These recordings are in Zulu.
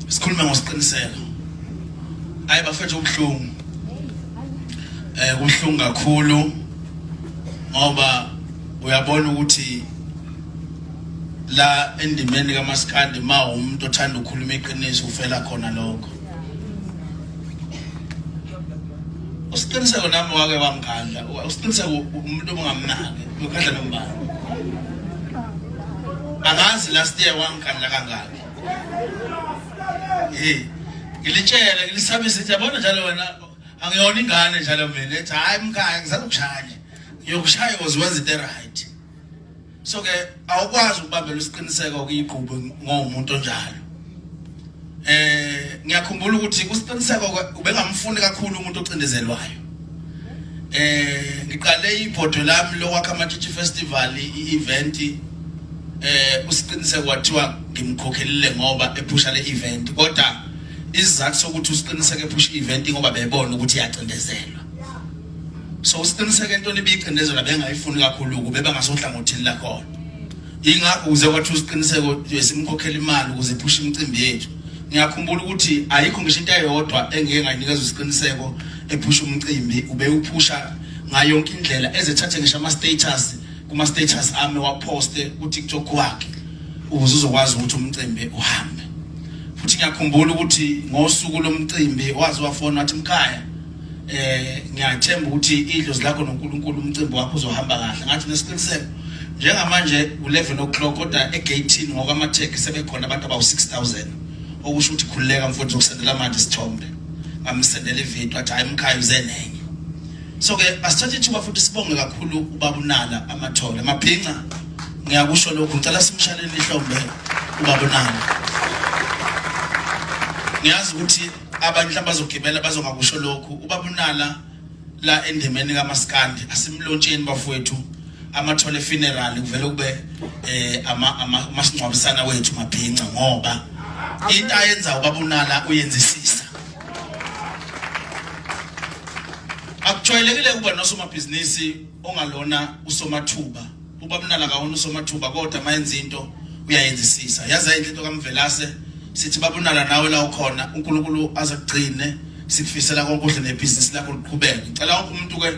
sikhulume ngosiqiniseko hayi bafethu ubuhlungu eh kubuhlungu kakhulu ngoba uyabona ukuthi la endimeni kaMaskandi ma umuntu othanda ukukhuluma iqiniso ufela khona lokho usiqiniseko nami wake wangikhandla usiqiniseko umuntu obungamnaki ukhandla nombani angazi last year wangikhandla kangaki hey ngilitshele ngilisabisa ukuthi yabona njalo wena angiyona ingane njalo mina ethi hayi mkhaya ngisazokushaya ngiyokushaya koze wenze into right so ke awukwazi ukubambela isiqiniseko kuyigqubo ngomuntu onjalo eh ngiyakhumbula ukuthi kusiqiniseko ubengamfuni kakhulu umuntu ocindezelwayo eh ngiqale ibhodo lami lokwakha amatshitshi festival i-event eh usiqiniseko wathiwa ngimkhokhelile ngoba ephusha le event kodwa isizathu sokuthi usiqiniseke ephusha i-event ngoba bebona ukuthi iyacindezelwa so usiqiniseke into ebiyicindezela bengayifuni kakhulu kube bangasohlangothini lakhona ingakho kuze kwathi usiqiniseko simkhokhela imali ukuze iphushe imicimbi yethu ngiyakhumbula ukuthi ayikho ngisho into eyodwa engeke ngayinikeza usiqiniseko ephusha umcimbi ubewuphusha ngayo yonke indlela ezethathe ngisho ama status kuma status ami waposte ku TikTok wakhe ukuze uzokwazi ukuthi umcimbi uhambe futhi ngiyakhumbula ukuthi ngosuku lomcimbi wazi wafona wathi mkhaya eh ngiyathemba ukuthi idlozi lakho noNkulunkulu umcimbi wakho uzohamba kahle ngathi nesiqiniseko njengamanje u11 o'clock kodwa egate ngokwamatheki sebekhona abantu abawu 6000 okusho ukuthi khululeka mfowethu zokusendela manje isithombe ngamsendela ivideo athi hayi mkhaya uze nenye so ke asithathe ithuba futhi sibonge kakhulu ubaba unala amathole amabhinca ngiyakusho lokhu ngicela simshalele ihlombe ubaba unala ngiyazi ukuthi abanye mhlawumbe bazogibela bazongakusho lokhu ubaba unala la endemeni kamaskandi asimlontsheni bafowethu amathole funeral kuvele kube eh ama amasingcwabisana wethu mabhinca ngoba into ayenza ubaba unala uyenzisisa akujwayelekile ukuba nosomabhizinisi ongalona usomathuba ubabnala kawona usomathuba kodwa mayenza into uyayenzisisa yazi ayinhle into kamvelase sithi babunala nawe la ukhona uNkulunkulu azakugcine sikufisela konke kuhle nebhizinisi lakho liqhubeke ngicela wonke umuntu ke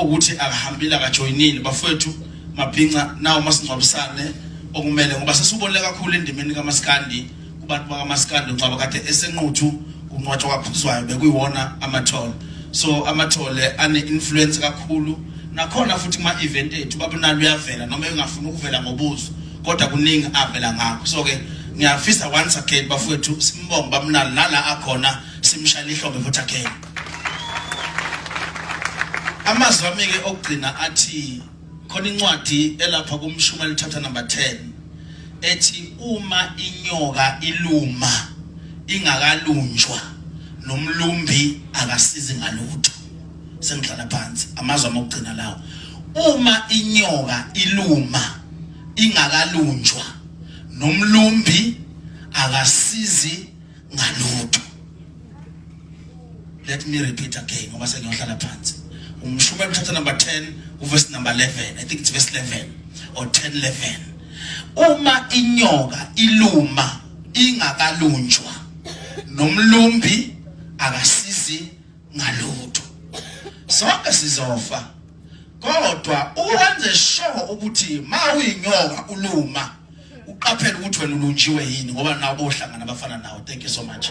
ukuthi akahambile akajoyinile bafowethu mabhinca nawo masingcwabisane okumele ngoba sesubonile kakhulu endimeni kamaskandi kubantu bakamaskandi uncwaba kade esenquthu kunqwatshwa kwaphuzwayo bekuyiwona amathole so amathole ane-influence kakhulu nakhona futhi kuma-event ethu babunalo uyavela noma engafuni ukuvela ngobuzo kodwa kuningi avela ngakho so-ke ngiyafisa once again bafowethu simbonge babunalo nala akhona simshayela ihlombe futhi again amazwi ami-ke okugcina athi khona incwadi elapha kumshumayeli chapter number 10 ethi uma inyoka iluma ingakalunjwa nomlumbi akasizi ngalutho sengidlala phansi amazwi amokugcina lawo uma inyoka iluma ingakalunjwa nomlumbi akasizi ngalutho let me repeat again ngoba sengiyohlala phansi umshumayeli chapter number 10 uverse number 11 i think it's verse 11 or 10 11 uma inyoka iluma ingakalunjwa nomlumbi akasizi ngalutho sonke sizofa kodwa uwenze sure ukuthi ma uyinyoka uluma uqaphele ukuthi wena ulunjiwe yini ngoba nawo bohlangana abafana nawo thank you so much